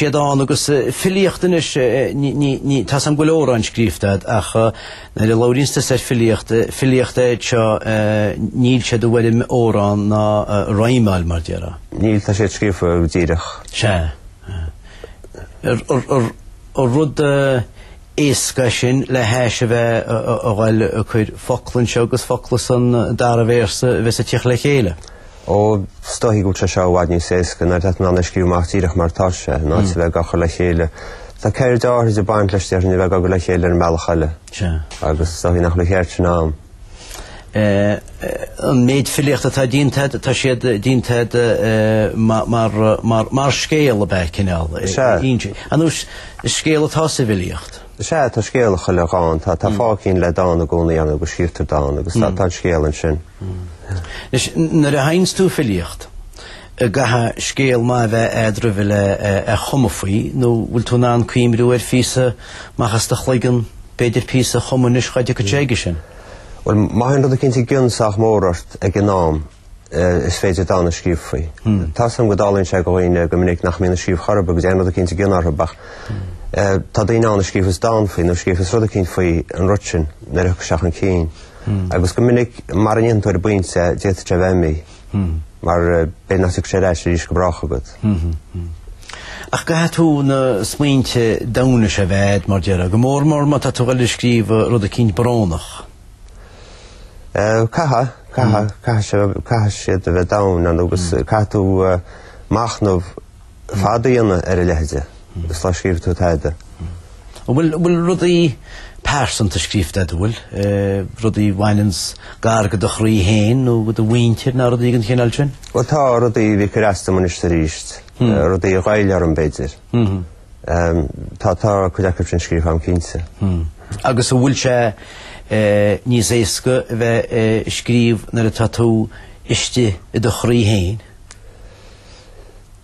siad ann agus filíocht anois ní tá a fhios agam go bhfuil amhráin scríofa agat ach nuair a labhraíonns tú ar filíocht filíocht é seo níl siad i bhfoirm amhrán ná rímeáil mar déarfá. níl tá siad scríofa díreach. sea. ar rud éasca sin le hais a bheith a ghoil ag cur focla anseo agus focla san dara véarsa a bheith ag tíocht le chéile. Ó, 's dóigh go bhfuil sé seo i bhfad níos éasca nuair atá tú in ann é a scríobh amach díreach mar atá sé, in áit a bheith ag cur le chéile. Tá ceird áithrid ag baint leis, déarfainn, a bheith ag cur le chéile ar an mbealach eile. Sea. Agus is dóigh nach bhfuil an cheird sin agam. An méid filíochta atá déanta agat, tá siad déanta agat mar scéal ab ea, cineál? Sea. An scéal atá sa bhfilíocht? Is ea, tá scéal i chuile dhán, tá fáth eicínt le dán i gcónaí ann agus scríobhtar dán agus tá an scéal ansin. Anois, nuair a sheinns tú filíocht, an gcaithfidh scéal maith a bheith a'd roimhe le cumadh faoi nó bhfuil tú in ann cuimhniú ar phíosa amach as do chloigeann, b'fhéidir píosa a chumadh anois dhá dtiocfadh sé aige sin? Bhuel, má théann rud eicínt i gcion sách mór ort ag an am. is féidir dán a scríobh faoi. Tá a fhios agam go dtarlaíonn sé go dhaoine go minic nach mbíonn ag scríobh chor ar bith go dtéann rud eicínt i gcion orthu ach tá daoine ann a scríobhas dán faoi nó scríobhas rud eicínt faoi an rud sin nuair a thiocfadh isteach ina gcinn. Agus go minic mara ndéanann tú ar an bpointe é, d'fhéadfadh sé a bheith imithe mar b'fhéidir nach dtiocfaidh sé ar ais arís go brách agat. Ach caithfidh tú na smaointe domhaine sin a bheith a'd mar a déarfá, go mór mór má tá tú ag dul a scríobh rud eicínt brónach. Caithfidh siad a bheith domhain ann agus caithfidh tú machnamh fada a dhéanamh ar a leithide sula scríobhann tú tada. An bhfuil rudaí pearsanta scríofa agat, an bhfuil? Rudaí a bhaineanns gar go do chroí féin nó go do mhuintir nó rudaí den chineál sin? Bhuel, tá rudaí a bhí ag cur as dom anois is arís, rudaí a ghoill orm, b'fhéidir. Tá tá cuid acu sin scríofa agam cinnte. Agus an bhfuil sé níos éasca a bheith a scríobh nuair atá tú istigh i do chroí féin?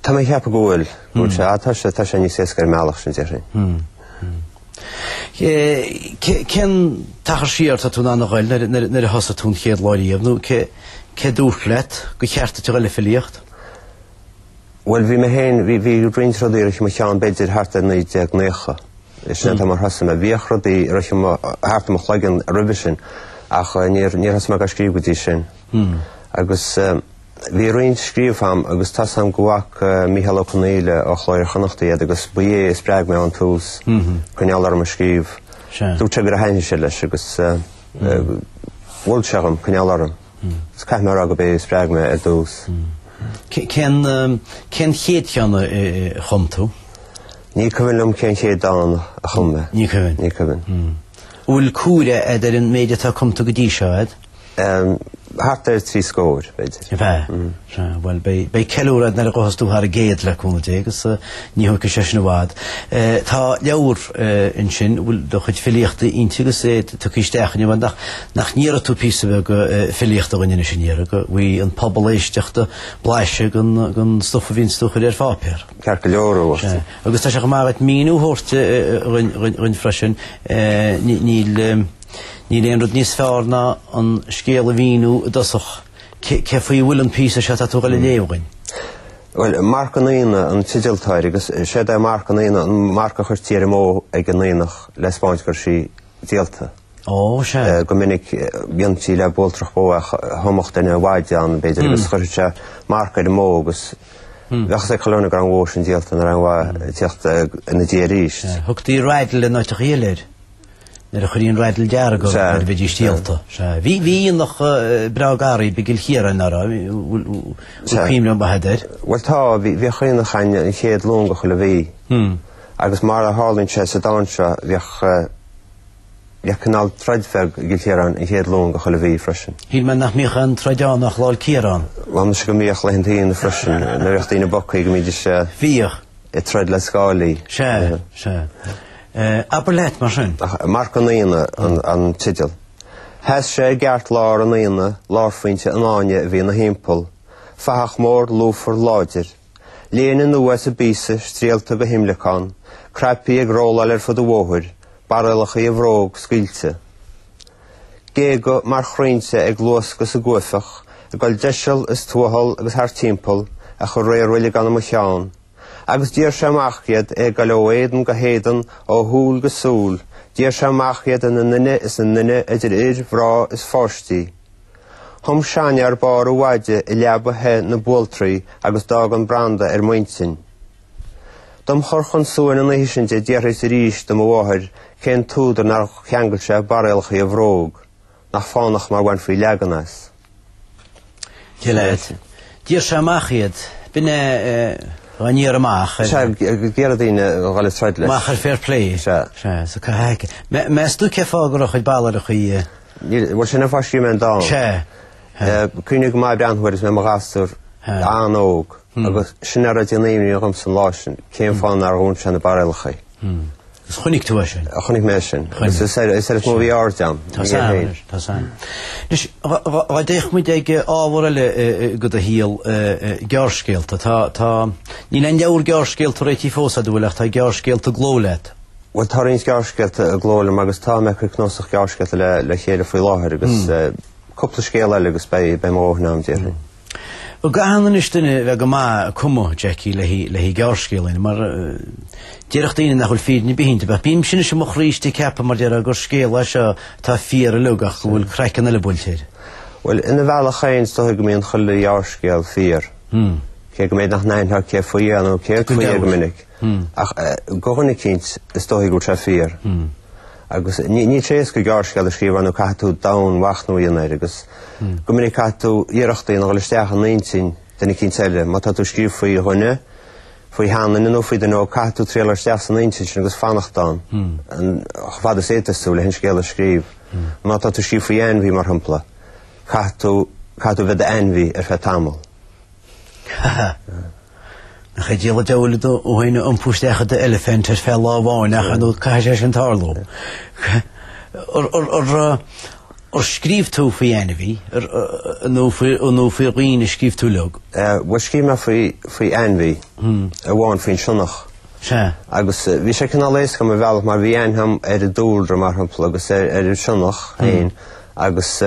Tá mé ag ceapadh go bhfuil. Go bhfuil sé. Tá sé tá sé níos éasca ar an mbealach sin déarfainn. Cén t-achar siar atá tú in ann a ghoil nuair nuair nuair a thosaigh tú an chéad lá riamh nó cé cé a dúirt leat gur cheart duit a ghoil le filíocht? Bhuel, bhí mé féin, bhí, bhí roinnt rudaí i mo cheann b'fhéidir thart ar 1990. Is sin é an t-am ar thosaigh mé. Bhíodh rudaí thart i mo chloigeann roimhe sin ach níor níor thosaigh mé dhá scríobh go dtí sin. Agus bhí roinnt scríofa agam agus tá a fhios agam go bhfaca Mícheál Ó Conghaile ó Chló Iar-Chonnachta iad agus ba é a spreag mé ón tús coinneáil orm a scríobh. Dúirt sé gur thaitnigh sé leis agus mhol sé dhom coinneáil orm. Is caithfidh mé a rá gurb é a spreag mé ar dtús. Cén cén chéad cheann a chum tú? Ní cuimhin liom cén chéad dán a chum mé. Ní cuimhin? Ní cuimhin. An bhfuil comhaireamh a'd ar an méid atá cumtha go dtí seo a'd? Thart ar trí scór, b'fhéidir. An mbeadh? Sea, bhuel, beidh ceiliúradh nuair a ghabhfas tú thar an gcéad, le cúnamh Dé, agus ní thógfaidh sé sin i bhfad. Tá leabhar ansin, a bhfuil do chuid filíochta inti agus é tugtha isteach inniu a'd nach, nach ndéarfaidh tú píosa beag filíochta dhúinn anois, an ndéarfaidh, go bhfaighidh an pobal éisteachta blaiseadh den, den stuif a bhíonns tú a chur ar pháipéar. Ceart go leor, a Mháirtín. Sea. Agus tá sé chomh maith agat míniú a thabhairt dhuinn freisin, níl, níl aon rud níos fearr ná an scéal a mhíniú i dtosach, Cé faoi a bhfuil an píosa seo atá tú ag goil a léamh dhúinn? Bhuel, Marc an Aonaigh an teideal atá air agus is éard é Marc an Aonaigh an marc a chuirtí ar an mbó ag an aonach le 'spáint go raibh sí díolta. Ó, sea. Go minic dhéantaí le bualtrach bó é, thomadh duine a mhaide ann, b'fhéidir, agus chuirfeadh sé marc ar an mbó agus bheadh a fhios ag chuile dhuine go raibh an bhó sin díolta, nach raibh aon mhaith tíocht ina diaidh arís. Thugtaí raddle in áiteachaí eile air. Nuair a chuiríonn raddle dearg nuair a bheidís díolta. Bhí aonach breá dáiríre i gCill Chiaráin uair, bhfuil cuimhne ar bith a'd air? Bhuel tá, bhíodh aonach ann an chéad Luan de chuile mhí, agus mar a tharlaíonn sé sa dán seo, bhíodh, bhíodh cineál troid bheag i gCill Chiaráin an chéad Luan de chuile mhí freisin. Shíl mé nach mbíodh aon troid ann ach Lá'l Ciaráin. Bhuel muise go mbíodh laethanta aonaigh freisin nuair a bhíodh daoine bogtha go mbídís ag troid le scáilí. Sea, sea. Eh, abair leat, mar sin. Marc an Aonaigh an teideal. Sheas sé i gceartlár an aonaigh, lárphointe an fháinne a bhí ina thimpeall, fathach mór lúfar láidir. Léine nua as an bpíosa, stiallta go himleacán, cnaipí ag rolláil ar fud an bhóthair, barriallachaí a bhróg scaoilte. Géaga mar chrainnte ag luascadh sa gcuaifeach, ag dul deiseal is tuathal agus thart timpeall, ach a réir uilig ann i mo cheann, Agus d'iarr sé amach iad, é ag goil ó éadan go héadan, ó shúil go súil, d'iarr sé amach iad ina nduine is ina nduine idir fhir, mhná is pháistí. Thum seanfhear barr a mhaide i leaba the na bualtraí agus d'fhág an branda ar m'intinn. Dom chur chun suain an oíche sin di d'fhiafraíos arís de mo mháthair cén t-údar nár cheangail sé barriallacha a bhróg. Nach fánach mar bhainfí leagan as. Gileád. D'iarr sé amach iad. B'in é an iarraidh amach. Sea, ag iarraidh daoine a dhul ag troid leis. Amach ar fair play. Sea. Sea, so cá haice. Meas tú cén fáth go raibh a chuid barriallachaí? Bhuel, sin an fáth a scríobh mé an dán. Sea. Cuimhním go maith breathnú air is mé i mo ghasúr an-óg agus sin a raibh ag déanamh imní dhom sa lá sin, cén fáth nár dhún sé na barriallachaí. Is chonaic tú é sin. Chonaic mé é sin. Is is air is air is mó a bhí aird agam. Tá a fhios agam anois, tá a fhios agam. Anois, dhá dhá dtéadh muid ag ábhar eile go do shaol, gearrscéalta. Tá tá, níl aon leabhar gearrscéalta réitithe fós agat, an bhfuil, ach tá gearrscéalta i gcló leat. Bhuel, tá roinnt gearrscéalta i gcló liom agus tá, mé ag cur cnuasach gearrscéalta le le chéile faoi láthair agus cúpla scéal eile agus beidh beidh mo dhóthain agam, déarfainn. An gcaitheann anois duine a bheith go maith, ag cumadh, Jackie, le haghaidh gearrscéal, nó, mar déarfadh daoine nach bhfuil fírinne ar bith inti. Bheadh bímse anois i mo chroí istigh ag ceapadh, mar déarfá, gur scéal é seo atá fíor uilig ach go bhfuil craiceann eile buailte air. Bhuel, ina bhealach féin, is dóichí go mbíonn chuile ghearrscéal fíor, cé go mb'fhéidir nach n-aithneofá cé faoi é nó céard faoi é go minic. Ach do dhuine eicínt, is dóichí go bhfuil sé fíor. Agus níl sé éasca gearrscéal a scríobh ar ndóigh caithfidh tú domhainmhachnamh a dhéanamh air, agus Go minic caithfidh tú iarracht a dhéanamh dhul isteach in intinn duine eicínt eile. Má tá tú ag scríobh faoi dhuine, faoi sheanduine nó faoi dhuine óg caithfidh tú triail dul isteach san intinn sin agus fanacht ann chomh fada is a fhéadas tú le an scéal a scríobh. Má tá tú ag scríobh faoi ainmhí, mar shampla, caithfidh tú bheith i d'ainmhí ar feadh tamaill. Nach é an diabhal é ag triail tú féin a iompú isteach i d'eilifint ar feadh lá amháin ach ar ndóigh caithfidh sé sin tarlú. Ar scríobh tú faoi ainmhí nó nó faoi dhaoine a scríobh tú uilig? Bhuel scríobh mé faoi faoi ainmhí. amháin faoin sionnach. Sea. Agus bhí sé cineál éasca dom ar bhealach mar bhí aithne agam ar an dúlra mar shampla agus ar ar an sionnach féin agus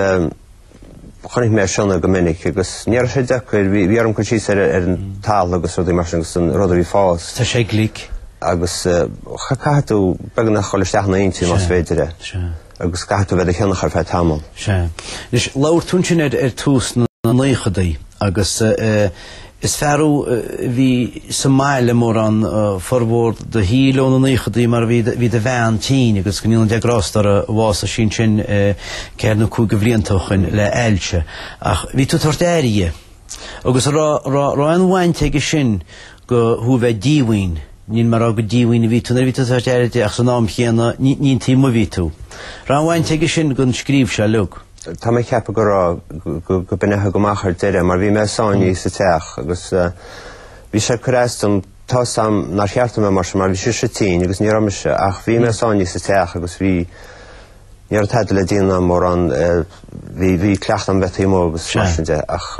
Chonaic mé sionnaigh go minic agus ní raibh sé deacair, bhí, bhí orm cur síos ar an talamh agus rudaí mar sin agus an rud a bhí ag fás. Tá sé glic. Agus cha, caithfidh tú beagnach dhul isteach ina intinn más féidir é. Sea. Agus caithfidh tú bheith i do shionnach ar feadh tamall. Sea. Anois, labhair tú ansin ar, ar tús na naochadaí agus eh, Is fear thú a bhí sa mbaile mórán formhór do shaoil ó na naochadaí mar bhí do bhean tinn agus go ndéana Dia grásta uirthi bhásaigh sí sin ceithre nó cúig de bhlianta ó shoin le ailse. Ach bhí tú ag tabhairt aire dhi. Agus an raibh aon bhaint aige sin go thú bheith díomhaoin, níl mé a rá gur díomhaoin a bhí tú nuair a bhí tú ag tabhairt aire di ach san am chéanna ní an taobh amuigh a bhí tú. Raibh aon bhaint aige sin gon scríobh seo uilig? Tá mé ag ceapadh go raibh, go b'in a thug amach ar deireadh, mar bhí mé sáinnithe sa teach agus bhí sé ag cur as dom tá a fhios agam nár cheart dom a bheith mar sin mar bhí sise tinn agus ní raibh mise ach bhí mé sáinnithe sa teach agus bhí, ní raibh tada le déanamh agam mórán, bhí, bhí cleachtadh agam bheith taobh amuigh agus mar sin de ach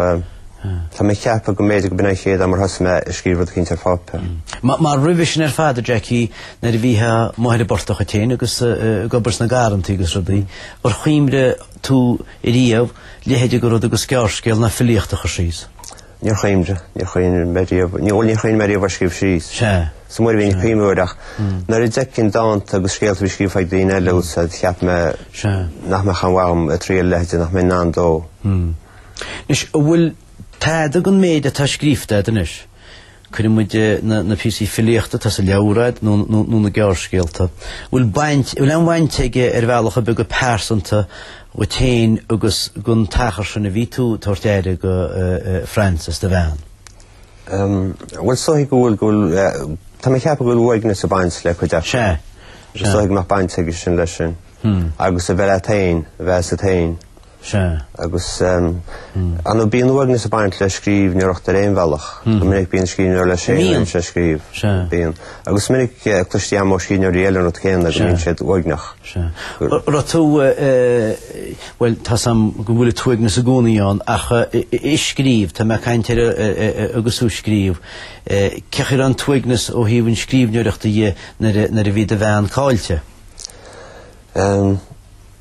tá mé ag ceapadh go mb'fhéidir go b'in an chéad am ar thosaigh mé ag scríobh rud éicint ar pháipéar. Mar roimhe sin ar fad a Jackie, nuair a bhítheá amuigh ar an bportach dhuit féin agus ag obair sna garrantaí agus rudaí, Ar chuimhnigh tú riamh leithéide de rud agus gearrscéal ná filíocht a chur síos? Níor chuimhnigh, níor chuimhnigh mé riamh, ní bhuel níor chuimhnigh mé riamh ar scríobh síos. Sea. Is iomaí uair a bhínn ag cuimhniú air ach hmm. nuair a d'fheicinn dánta agus scéalta a bhí scríofa ag daoine eile úsa cheap mé nach mbeadh aon mhaith dhom ag triail leithéide nach mbeinn in ann dó. Hmm. Anois an bhfuil tada den mhéid atá scríofa agat anois? Cuireann muid na píosaí filíochta atá sa leabhar agat nó na gearrscéalta a bhfuil baint, a bhfuil aon bhaint aige ar bhealach ar bith go pearsanta dhuit féin agus don achar sin a bhí tú ag tabhairt aire do Frances, do bhean. Bhuel, is dóigh go bhfuil, go bhfuil, tá mé ag ceapadh go bhfuil uaigneas ag baint le cuid acu. Sea, sea. Is dóigh go mbeadh baint aige sin leis sin. Agus a bheith leat féin, a bheith asat féin. Sea. Agus ar ndóigh bíonn uaigneas ag baint le scríbhneoireacht ar aon bhealach. Go minic bíonn scríbhneoir leis féin is é ag scríobh. Sea. Bíonn. Agus is minic cloiste agam ó scríbhneoirí eile an rud céanna, go mbíonn siad uaigneach. Sea. Raibh tú, bhuel, tá's am go bhfuil an t-uaigneas i gcónaí ann, ach ag scríobh, tá mé ag caint ar agus thú ag scríobh, cén chaoi a raibh an t-uaigneas ó thaobh an scríbhneoireachta dhe nuair a bhí do bhean caillte?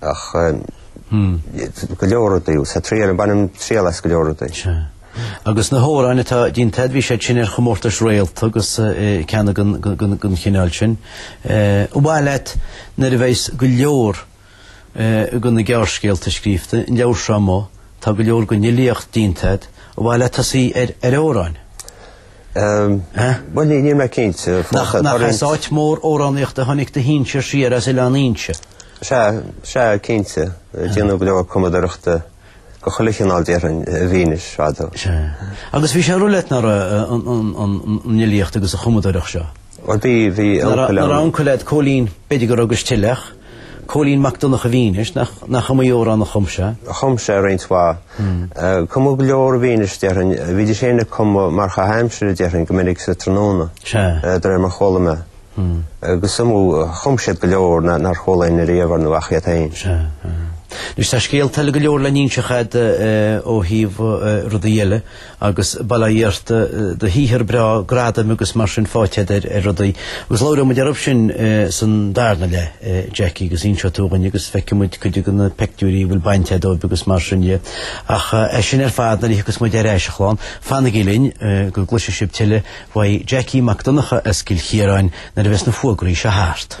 Ach go leor rudaí, sa triail, bainim triail as go leor rudaí. Sea. Agus na hamhráin atá déanta agat, bhí siad sin ar chomórtas Réalta agus ceanna den chineál sin. Ar mhaith leat nuair a bheas go leor de na gearrscéalta scríofa, an leabhar seo amuigh, tá go leor den fhilíocht déanta agat, ar mhaith leat tosaí ar amhráin? Bhuel, ní, níl mé cinnte. Nach, nach as áit mór amhránaíochta a tháinig do shinsir siar as Oileán Fhínse? Sea, sea, cinnte. Déanadh go leor cumadóireachta, de chuile chineál, déarfainn, i bhFínis fadó. Sea. Agus bhí sé ag rith leat, nach raibh, an, an, an, an fhilíocht agus an chumadóireacht seo? Nach raibh uncail leat Cóilín, b'fhéidir go raibh agus tuilleadh, Cóilín Mac Donncha i bhFínis, nach iomaí amhrán a chum sé? Chum sé roinnt mhaith. Cumadh go leor i bhFínis, déarfainn. Bhídís féin ag cumadh mar chaitheamh aimsire, déarfainn, go minic sa tráthnóna, de réir mar chuala mé. Agus is iomaí, chum siad go leor nár chuala éinne riamh, ar ndóigh, ach iad féin. Sea. Anois, tá scéalta eile go leor le n-inseacht agat ó thaobh rudaí eile. agus bail ó Dhia ort, do shaothar breá, gradaim agus mar sin faighte agat ar rudaí. Agus labhróidh muid orthu sin san darna leith, Jackie, agus inseoidh tú dhúinn agus feicfidh muid cuid de na pictiúirí a bhfuil baint agat dóibh agus mar sin de. Ach é sin ar fad, nuair a thiocfas muid ar ais a chlann, fanaigí linn go gcloisfidh sibh tuilleadh uaidh Jackie Mac Donncha as Cill Chiaráin nuair a bheas na fógraí seo thart.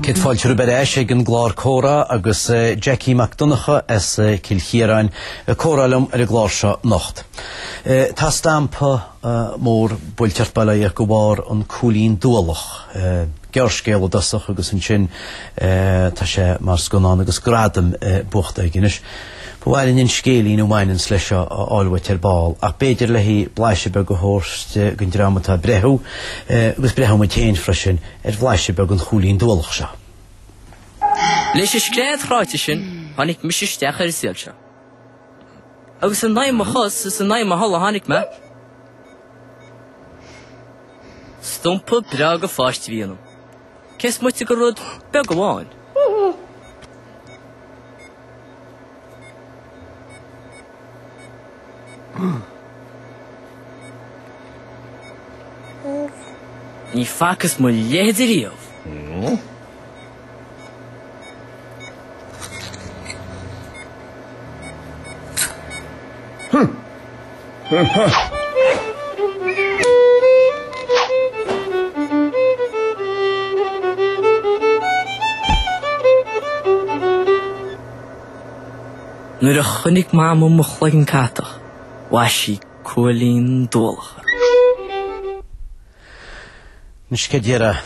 Céad fáilte romhaibh ar ais ag an gclár Comhrá agus Jackie Mac Donncha as Cill Chiaráin ag comhrá liom ar an gclár seo anocht. Tá stampa mór buailte ort baileach de bharr an Cúilín Dualach, gearrscéal i dtosach agus ansin tá sé mar scannán agus gradam buachta aige anois. Ba mhaith linn an scéilín a bhaineanns leis seo a fháil uait ar ball, ach b'fhéidir le haghaidh blaiseadh beag a thabhairt den dream atá ag breathnú, agus breathnóidh muid féin freisin, ar bhlaiseadh beag den chúilín dualach seo. Leis an scread chráite sin tháinig mise isteach ar an saol seo. Agus in aghaidh mo chos is in aghaidh mo thola tháinig mé. Stumpa breá de pháiste a bhí ionam. Cé is moite de rud beag amháin. Ní facas mo leithéid riamh. Nuair a chonaic Mamó mo chloigeann catach, bhaist sí Cúilín Dualach orm. Anois céard déarfá.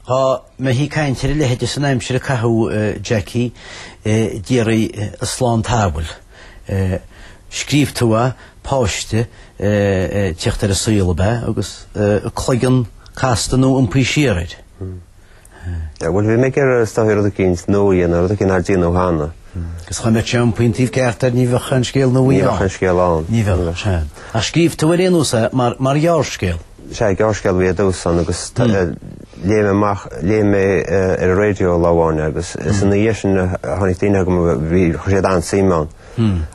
Tá mé ag caint ar a leithide san aimsir a caitheadh Jackie díreach, slán an tsamhail. Scríobh tú a, páiste, ag tíocht ar an saol ab ea agus a chloigeann casta nó iompaithe siar air? Bhuel, bhí mé ag iarraidh is dóichí rud éicint nua a dhéanamh, rud éicint nár déanadh cheana. Agus dhá mbeadh a cheann iompaithe an taobh ceart air, ní bheadh aon scéal nua ann. Ní bheadh aon scéal ann. Ní bheadh, sea. Ach scríobh tú ar aon nós é mar ghearrscéal. Sea, gearrscéal a bhí ar dtús ann agus léigh mé amach, léigh mé ar an raidió lá amháin é agus is ina dhiaidh sin a tháinig daoine chugam, bhí, chuir siad an-suim ann.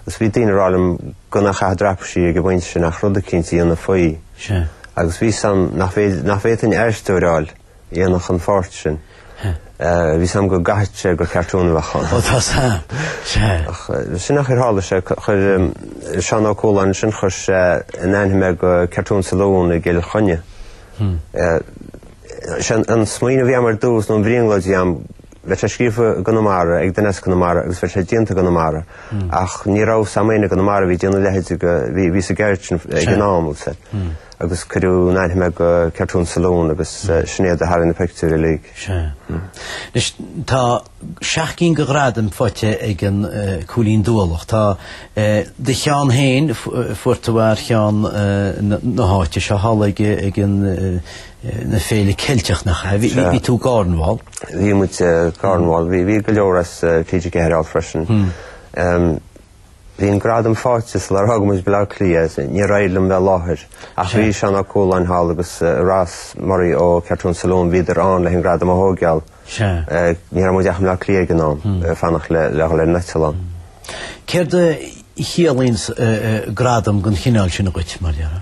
Agus bhí daoine ag rá liom gan é a chaitheamh i dtraipisí ag an bpointe sin ach rud éicint a dhéanamh faoi. Sea. Agus bhí a fhios agam nach bhféadfainn aisteoir a fháil. dhéanfadh an pháirt sin. Bhí a fhios agam go gcaithfeadh sé gur cartún a bheadh ann. Ó tá a fhios agam. Sea. Ach sin an chaoi ar tharla sé. Chuir Seán Ó Cualáin ansin, chuir sé in aithne mé do Cartoon Saloon i gCill Chainnigh. Sin an smaoineamh a bhí agam ar dtús, nó an bhrionglóid a bhí agam, Bheadh sé scríofa i gConamara, ag duine as Conamara agus bheadh sé déanta i gConamara. Ach ní raibh a fhios agam éinne i gConamara a bhí ag déanamh a leithéid go, bhí, bhí sa gceird sin ag an am, agus eh, agus cuireadh in aithne mé do Cartoon Saloon agus eh, sin iad a tharraing na pictiúir uilig. Sea. Anois, tá seacht gcinn de ghradaim faighte ag an eh, Cúilín Dualach. Tá eh, do cheann féin, fu- eh, fuair tú ar cheann eh, na na háite seo thall ag, eh, ag an eh, na Féile Ceilteach nach ea? Bhí bhí tú i gCornwall. Bhí muid i gCornwall. Bhí bhí go leor as TG4 ann freisin. Bhí an gradam fáighte sular fhág muid Baile Átha Cliath. Níor éirigh liom bheith i láthair. Ach bhí Seán Ó Cualáin thall agus Ross Murray ó Cartoon Saloon. Bhíodar ann leis an gradam a thóigheáil. Ní raibh muid ach i mBaile Átha Cliath ag an am fanacht le le dhul ar an eitleán. Céard a chiallaíonn gradam den chineál sin dhuit, mar a déarfá?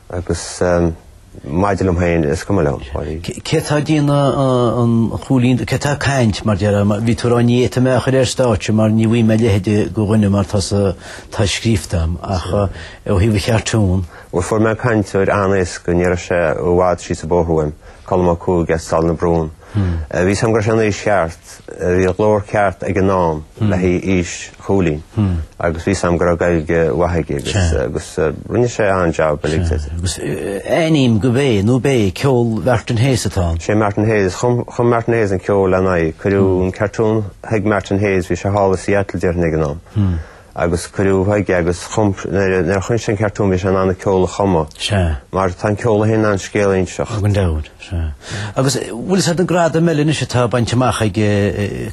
Agus maidir liom féin, is cuma liom. Cé atá ag déanamh an Chúilín, cé atá ag caint, mar deir, bhí tú ag rá ní fhéadfaidh mé é a chur ar stáitse mar ní bhfaighidh mé a leithide de dhuine mar tá sa, tá scríobhta agam ach ó thaobh an chartúin. Bhuel fuair mé cainteoir an-éasca, ní raibh sé i bhfad síos an bóthar uaim, Colm Ó Cuaig as Sailearna Brún. Bhí a fhios agam go raibh sé san aois cheart, bhí glór ceart ag an am le haghaidh aois Chúilín agus bhí a fhios agam go raibh Gaeilge mhaith aige agus agus rinne sé an-jab uilig de. Agus aithním gurb é nó ab é ceol Mhartin Hayes atá ann. Sé Martin Hayes, chum chum Martin Hayes an ceol lena aghaidh, cuireadh an cartoon chuig Martin Hayes, bhí sé thall i Seattle déarfainn ag an am. agus cuireadh chuige agus nuair a chonaic sé an cartoon bhí sé in ann an ceol a chumadh. Sea. Mar tá an ceol é féin in ann scéal a inseacht. Gan dabht, sea. Agus bhfuil a fhios agat an gradam eile anois atá bainte amach ag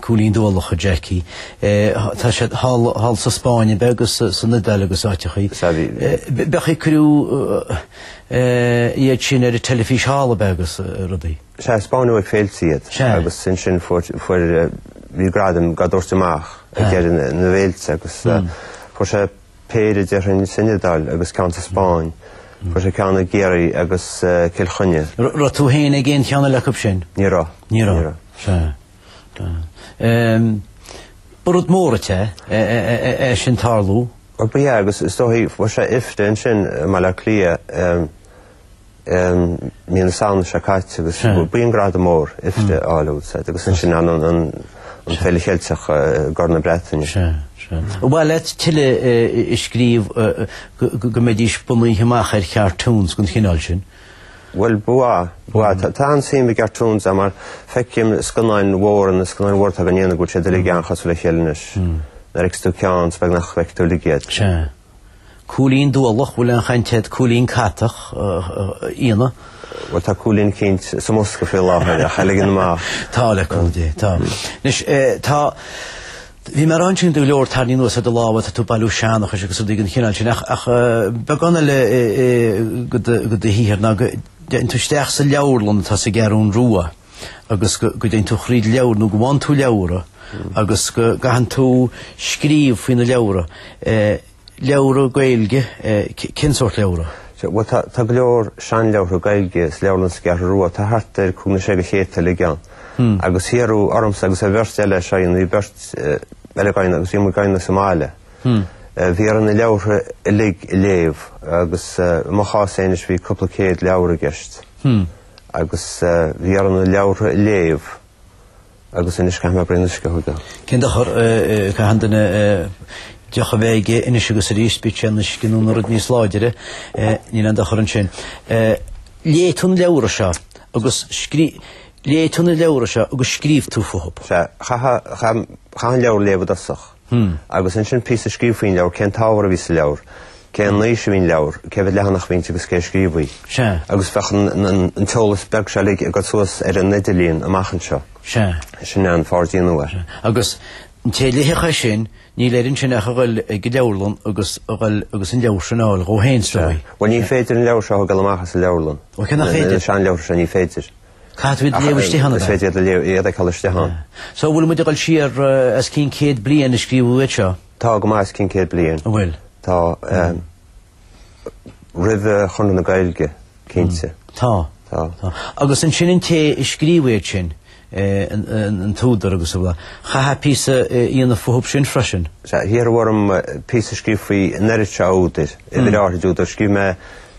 Cúilín Dualach, a Jackie. Tá siad thall sa Spáinn ab ea agus san Iodáil agus áiteachaí. Sea, bhí. Ab é an chaoi ar cuireadh iad sin ar an teilifís thall ab ea agus rudaí. Taispeánadh ag féilte iad agus ansin fuair, fuair, bhí gradaim á dtabhairt amach ag deireadh na bhféilte agus fuair sé péire déarfainn san Iodáil agus ceann sa Spáinn. Fuair sé ceann i gCiarraí agus Cill Chainnigh. Raibh tú féin ag aon cheann eile acub sin? Ní raibh. Ní raibh. Ní raibh. Sea. Sea. Ba rud mór dhuit é sin tarlú. Ba ea agus is dóichí fuair sé IFTA ansin i mBaile Átha Cliath. mí na Samhna seo caite agus b'in gradam mór IFTA a fháil bhfuil a fhios agat agus ansin anonn an Fhéile Cheilteach i gCorn na Breataine. Ba mhaith leat tuilleadh a scríobh go mbeidís bunaithe amach ar chartúns den chineál sin? Bhuel, ba mhaith, ba mhaith. Tá an-suim i gcartúns agam mar feicim scannáin mhóra, na scannáin mhóra atá dhá ndéanamh go bhfuil siad uilig an-chosúil le chéile anois. Nuair a fheicfidh tú ceann is beag nach bhfeicfidh tú uilig iad. Cúilín dualach, bhfuil an chaint a'd cúilín catach, íona? Bhuel tá cúilín eicínt sa mbosca faoi láthair ach a' ligean amach. Tá le cúnamh Dé, tá. Anois eh tá, bhí mé ag rá ansin tá go leor tarraingthe anuas ar do lámha, tá tú ag bailiú seanchais agus rudaí den chineál sin ach, ach eh beagán eile eh eh go do go do shaothar ná go, dtéann tú isteach sa leabharlann atá sa gCeathrún Rua, agus go dtéann tú thríd leabhartha nó go bhfaigheann tú leabhartha agus go gcaitheann tú scríobh faoi na leabhartha. Leabhartha Gaeilge, cén sórt leabhartha? Bhuel, tá go leor seanleabhartha Gaeilge sa Leabharlann sa gceathrú rua, tá thart ar cúig nó sé de chéadta uilig ann. Agus hiarradh ormsa agus ar bheirt eile, seo a dhéanamh, bhí beirt eile dhá dhéanamh agus bhí muid dhá dhéanamh sa mbaile, bhí orainn na leabhartha uilig a léamh agus i mo chás féin anois bhí cúpla céad leabhar i gceist. agus bhí orm na leabhartha a léamh agus anois caithfidh mé braon uisce a thógáil. Cén dochar, caitheann duine deoch a bheith aige anois agus arís, bíodh sé ina uisce nó ina rud níos láidire, níl aon dochar ansin. Léigh tú na leabhartha seo agus, léigh tú na leabhartha seo agus scríobh tú fúthu. Sea, chaithfeá an leabhar a léamh i dtosach. agus ansin píosa a scríobh faoin leabhar, cén t-ábhar a bhí sa leabhar, cén aois a bhí an leabhar, cé mhéad leathanach a bhí inti agus cé a scríobh í. Agus bheadh an t-eolas beag seo uilig ag dul suas ar an idirlíon amach anseo. Sin é an Fortean Nua. Agus an té a léifidh é sin, níl air ansin ach a dhul ag an leabharlann agus a dhul agus an leabhar sin a fháil dhó féin, is dóigh. Bhuel ní féidir an leabhar seo a thógáil amach as an leabharlann. Ó cé nach féidir? An seanleabhar seo, ní féidir. Caithfidh tú iad a léamh istigh ann. Is féidir iad a léamh, iad a fheiceáil istigh ann. So bhfuil muid ag dul siar os cionn céad bliain ó scríobhadh iad seo? Tá go maith os cionn céad bliain. An bhfuil? Tá. Roimh Chonradh na Gaeilge cinnte. Tá. Tá. Agus ansin an té a scríobh iad sin, an t-údar agus a bhfuil, chaithfeá píosa a dhéanamh fúthu sin freisin? Sea, hiarradh orm píosa a scríobh faoi an oiread seo údair, uimhir áirid údair. Scríobh mé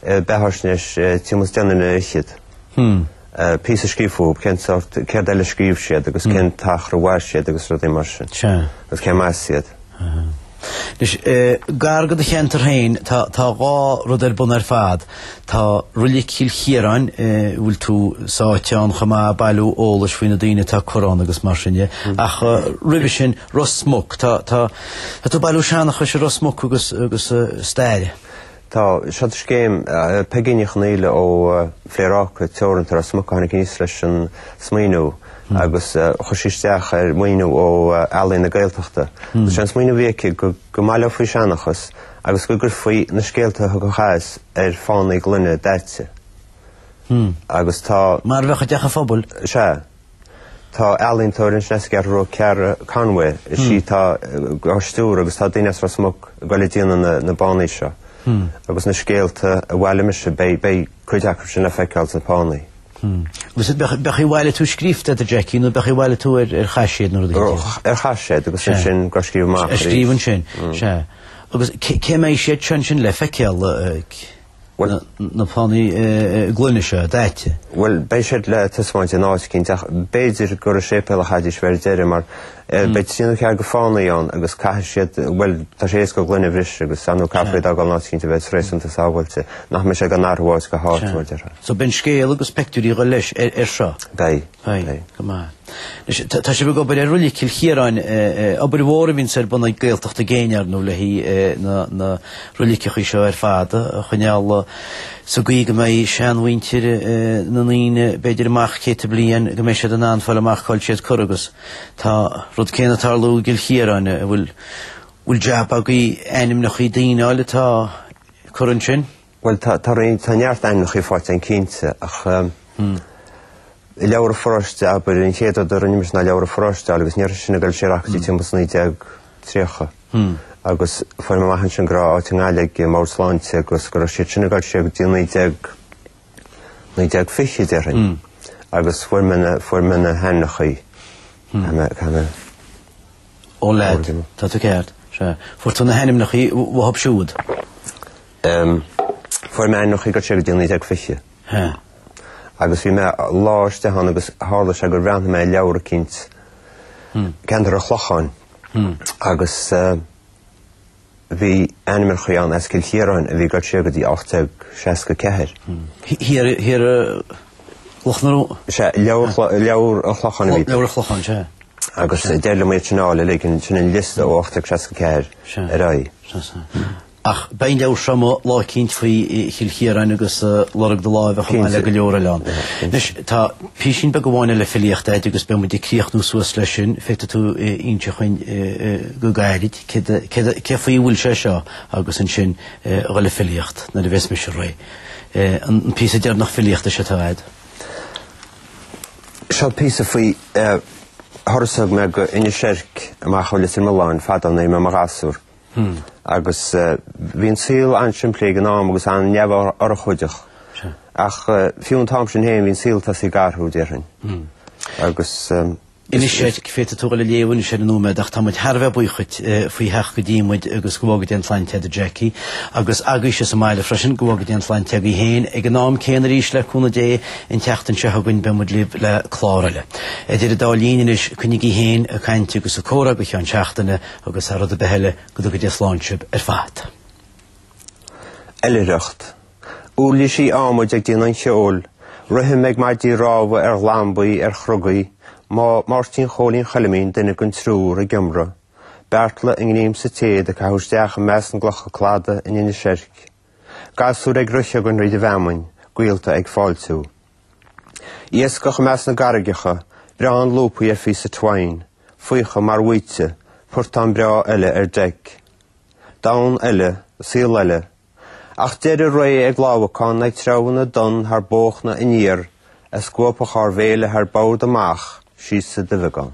beathaisnéis timpeall is deichniúr ar fhichid. píosa a scríobh fúthu, cén sórt, céard eile a scríobh siad agus cén t-achar a mhair siad agus rudaí mar sin. Sea. Agus cé mb'as iad. Anois, gar go do cheantar féin, tá, tá dhá rud ar bun ar fad. Tá Reilig Chill Chiaráin, bhfuil tú sáite ann chomh maith ag bailiú eolais faoi na daoine atá curtha ann agus mar sin de. Ach roimhe sin, Ros Muc, tá, tá, tá tú ag bailiú seanchais i Ros Muc agus, agus staire. Tá seod scéim Peigí Ní Chonghaile ó Phléaráca Teoranta, Ros Muc a tháinig aníos leis an smaoineamh agus chuir sí isteach ar mhaoiniú ó Ealaín na Gaeltachta. Sé an smaoineamh a bhí aici go mbaileofaí seanchas agus go gcuirfaí na scéalta a thiocfadh as ar phánaí gloine daite agus tá Mar a bheadh i dteach an phobail. Sea. Tá ealaíontóir ansin as an gCeathrú Rua, Ceara Conway, is í atá á stiúradh agus tá daoine as Ros Muc ag goil ag déanamh na bpánaí seo. Agus na scéalta a bhailigh mise, beidh cuid acu sin le feiceáil sna pánaí. Agus ab é an chaoi a bhailigh tú scríofa, a Jackie, nó ab é an chaoi a bhailigh tú ar chaiséad nó rud éigin? Ar chaiséad agus ansin dhá scríobh amach. Á scríobh ansin, sea. Agus cé mbeidh siad sin le feiceáil? na pánaí gloine seo, daite? Bhuel, beidh siad le taispeáint in áit eicínt, ach b'fhéidir gur sa séipéal a chaithfidís a bheith ar deireadh, mar beidh trí nó ceathair de phánaí ann agus caithfidh siad, bhuel, tá sé éasca gloine a bhriseadh agus ar ndóigh caithfear iad a fhágáil in áit eicínt a bheas réasúnta sábháilte, nach mbeidh sé dhá n-athrú ó áit go háit, mar a déarfá. So beidh an scéal agus peictiúirí ag dul leis air seo? Beidh. Aye. Go maith. Anois, tá sibh ag obair ar Reilig Chill Chiaráin, obair mhór a bhíonn ar bun ag Gaeltacht i gcéin, ar ndóigh, le haghaidh na, na reiligeachaí seo ar fad a choinneáil sa gcaoi go mbeidh seanmhuintir na ndaoine, b'fhéidir amach céadta bliain, go mbeidh siad in ann fáil amach cáil siad curtha agus tá an rud céanna ag tarlú i gCill Chiaráin, an bhfuil, bhfuil jab agaibh ainmneachaí daoine a fháil atá curtha ansin? Bhuel tá tá roinnt tá neart ainmneacha faighte ann cinnte ach i Leabhar an Pharóiste abair, an chéad rud a rinne mise ná Leabhar an Pharóiste a fháil agus ní raibh sin ag gabháil siar ach go dtí timpeall is 1930 agus fuair mé amach ansin go raibh áit i nGaillimh ag an mbord sláinte agus go raibh siad sin ag gabháil siar go dtí 19 1920 déarfainn agus fuair mé na fuair mé na hainmneachaí a mé a mé Ó leid tá tú ceart. Sea fuair tú na hainmneachaí uathub siúd. Em. Fuair mé ainmneachaí ag gabháil siar go dtí 1920. Hea. Agus bhí mé lá istigh ann agus tharla sé gur bhreathnaigh mé ar leabhar eicínt, Ceantar an Chlocháin, agus eh bhí ainmneacha ann as Cill Chiaráin a bhí ag gabháil siar go dtí 1864. Thiar, thiar sa gClochán ar ndóigh? Sea, leabhar chlo- leabhar an Chlocháin a bhí. Leabhar an Chlocháin, sea. Agus eh, d'éirigh liom iad sin a fháil uilig, an- sin an liosta ó 1864 ar aghaidh. Sea, sea. Ach beidh an leabhar seo amuigh lá eicínt faoi Chill Chiaráin agus lorg do láimhe chomh maith le go leor eile ann. Anois, tá písín beag amháin eile filíochta agat agus beidh muid ag críochnú suas leis sin. Féadfaidh tú inseacht dhúinn go gairid cé faoi a bhfuil sé seo agus ansin dul le filíocht nuair a bheas mise réidh. An píosa deireanach filíochta seo atá agat? Seo píosa faoi thuras a thug mé go hInis Eirc amach ó Leitir Mealláin fadó nuair a bhí mé i mo ghasúr. agus bhí an saol an-simplí ag an am agus an-neamhurchóideach. Ach fiú an t-am sin féin bhí an saol tosaithe ag athrú, déarfainn. Agus. Anois féadfaidh tú dul a léamh anois ar an nóiméad ach tá muid thar a bheith buíoch dhuit faoi theacht go dtí muid agus go bhfága Dia an tsláinte agat, Jackie. Agus agaibhse sa mbaile freisin, go bhfága Dia an tsláinte agaibh féin ag an am céanna arís le cúnamh Dé an tseachtain seo chugainn beidh muid libh le clár eile. Idir an dá linn anois, coinnígí féin a' caint agus a' comhrá go ceann seachtaine agus thar rud ar bith eile go dtuga Dia slán sibh ar fad. Oilithreacht. Uirlisí adhmaid ag déanamh an cheoil, rithim ag maidí rámha ar ghlambaí, ar chrogaí, Máirtín Chóilín Choilimín duine den triúr ag iomradh, Beartla i ngníom sa téad ag caitheamh isteach i measc na gclocha cladaigh in Inis Seirce, Gasúir ag rith chugainn tríd an bhfeamainn, gaolta ag fáiltiú. Iascach i measc na gcarraigeacha, breáin lúpaí ar phíosa twain, faocha mar bhaoite, portán breá eile ar deic. Domhan eile, saol eile. Ach deireadh ré ag lámhacán ag treabhanna donn thar bóchna aniar a scuabfadh ár bhféile thar bord amach síos sa duibheagán.